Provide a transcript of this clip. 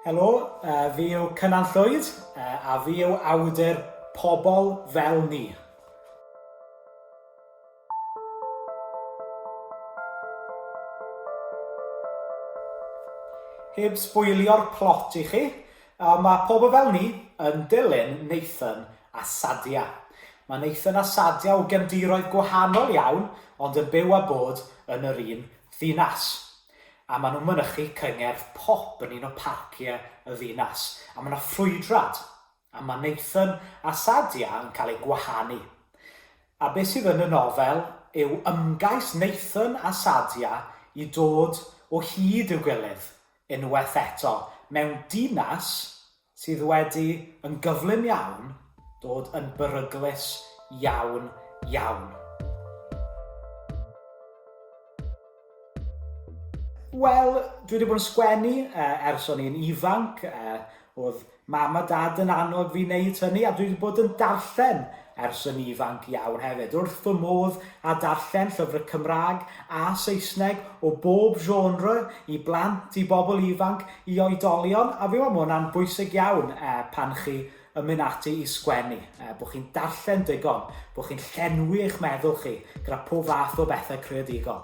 Helo, fi yw Cynan Llwyd, a fi yw awdur Pobol Fel Ni. Heb sbwylio'r plot i chi, mae Pobol Fel Ni yn dilyn Nathan a Sadia. Mae Nathan a Sadia o gefndiroedd gwahanol iawn ond yn byw a bod yn yr un ddinas. A maen nhw'n mynychu cyngerdd pop yn un o parciau y ddinas, a mae 'na ffrwydrad, a mae Nathan a Sadia yn cael eu gwahanu. A be sydd yn y nofel yw ymgais Nathan a Sadia i dod o hyd i'w gilydd unwaith eto, mewn dinas sydd wedi, yn gyflym iawn, dod yn beryglus iawn, iawn. Wel, dwi wedi bod yn sgwennu uh, ers o'n i'n ifanc, uh, oedd mam a dad yn annog fi wneud hynny, a dwi wedi bod yn darllen ers yn ifanc iawn hefyd. Wrth fy modd â darllen llyfrau Cymraeg a Saesneg o bob genre i blant, i bobl ifanc, i oedolion, a fi'n meddwl ma' hwnna'n bwysig iawn pan chi yn mynd ati i sgwennu, bod chi'n darllen digon, bod chi'n llenwi eich meddwl chi gyda pob fath o bethau creadigol.